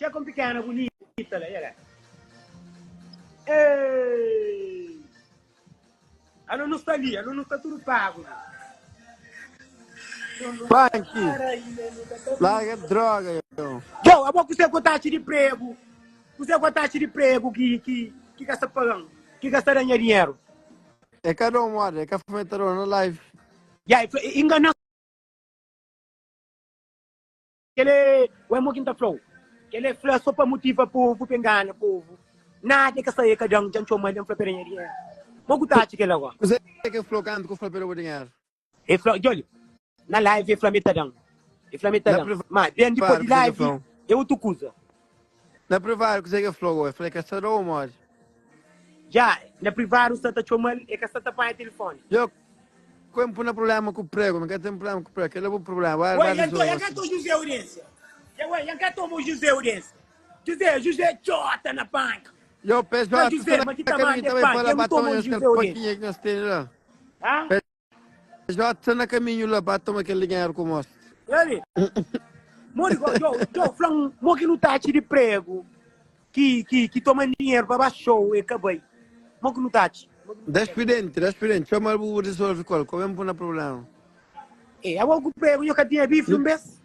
Txê kon pikéna bunita la, yeah. Ei! Anu nu sta li, anu nu sta tudo pago. Panki, larga droga, eu. Yo, abo kuse ko taxa de prego, kuse ko taxa de prego ki ki ki ka sta pagando, ki ka sta danha dinheiro. É cada um moda, é cada fomentador na live. Ya, yeah, engana Kel é o emo ki N ta fla-u. Kel é fla so pa motiva povu, pa e ngana povu. Nada e ka sai e ka da-m, dja N txoma-l, dja N fla pa el, Nha dinheru. Mo ku ta atxa kel awa? Kuzê ki el fla-u kantu ki u fla pa el oba dinheru? E fla, djoli, na live e fla-m e ta da-m. E fla-m e ta da-m. Má ben dipôs di live é otu kuza. Na privaru kuzé ki el fla-u? El fla-l, E ka sta da-u modi? Dja na privaru sta ta txoma-l, e ka sta ta panha tilifóni. Dja ku N pui na prubléma ku pregu, mi ka ten prubléma ku pregu, kel-la bu prubléma, ba ba rizolve asina. Oi, Jan ka ta o Juzé Aurénsia? Dja oi, Jan ka ta o Juzé Aurénsia? Juzé, Juzé txota na panha. Dja o, Pé Jota sta na kaminhu, ta bai pa la, ba ta odja kel pakinha ki nhos tene la. J sta na kaminhu la pa toma kel dinheru ku mos. Eri. Modi go jo jo flan mo ki nu tachi di prego ki ki ki toma dinheru pa ba show e ka bai. Mo ki nu tachi. Das pidenti das pidenti chomal bu bu resolve kol ko ben bu na problema. E abo ku prego nho ka tinha bife un bes.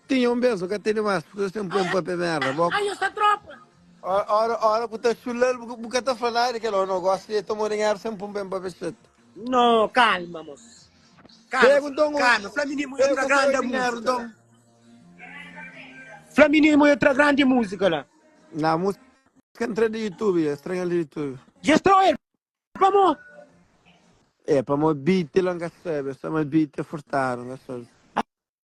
Tinha un bes nu ka tene mas purke nos ten poi un pape merda bo. Ai nho sta tropa. Ora ora ku ta chulal bu ka ta fla nada di kel o no gosta di toma dinheru sem pun ben pape chet. No, kalma mos. Pega un ton ui. Fla minimo yo tra grande musica la. Fla minimo yo tra grande musica la. Na musica entra di youtube ya estranha di youtube. Ya estranha pamo. E pamo beat la nka sabe soma beat ya furtado nka sabe.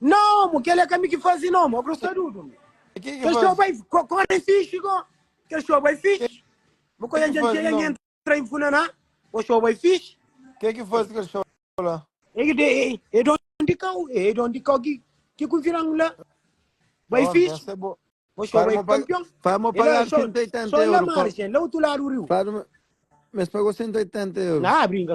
Nomu, kel é ka mi ki fazi nomu, a grosa dudu mi. E ke ki Kel show fazi? bai kore e fixi ko. Kel show bai fixi. Bo ko Ke yan ki fazi jantia yan nomu? entra i funaná. Bo show bai fixi. Ke ki fazi kel show la? E ki de e e don di kau, e e don di kau ki ki konvidan la. Bai Ó, fixi. essa é boa. Bo show Para bai mo pa- kampion. para mo E la pagar show, 180 show la euro, pa- margem, la utu ladu riu. Fala, mas pagou 180 euros. Ah, brinka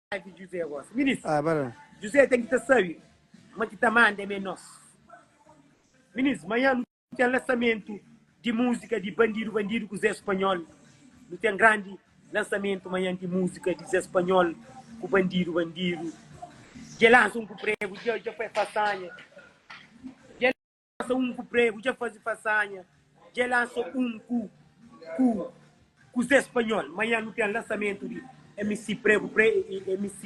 di Juzé gosi. Ministru, Ah, ba la. Juzé ten ki ta sabe ma ki ta manda é me nos. Ministru, Manhã nu ten lansamentu di musika di Bandidu Bandidu ku Zé Spanhol. Nu ten grandi lansamentu manhã di musika di Zé Spanhol ku Bandidu Bandidu. Dja lansa un ku pregu, dja, dja fai fasanha. Lasa un ku pregu dja fazi fasanha dja lasa un ku ku ku zé spanhol manha nu ten lasamento di mc pregu pre e mc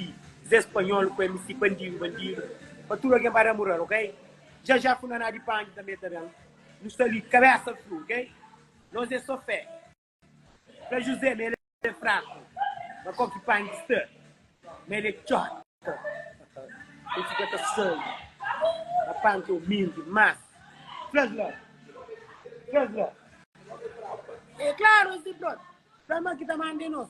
zé spanhol ku mc bandido bandido pa tudo algen ba namoral ok dja dja ku naná di pangi tanbe ta ben nu sta li kabesa fru ok nos é so fé Fla Juzé ma el é fraku, ma kau ki pangi sta, ma el é txota. El fika ta sali, ma panta o minti más. Fla-s la, fla-s la. É klaru es é txota, fla-s ma ki ta manda é nos.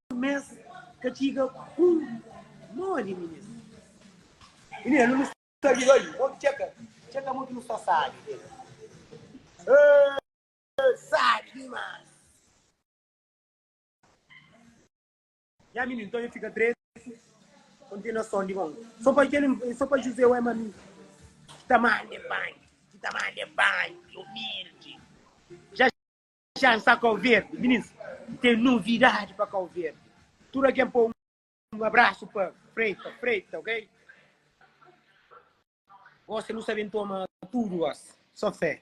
mes ka txiga ku modi minis. Minis nu nu sta li oi modi txeka txeka modi nu sta sabi del eh sabi dimas nha minis nton nha fika trezi kontenason di mon so pa kel so pa juzé oi ma mi ki ta mande banki ki ta mande banki umildi. Txan sa Kau Verdi minins ten novidadi pa Kau Verdi tudu algen pô un abrasu pa Preita Preita ok gosi nu sa ben toma tudu gosi so fé.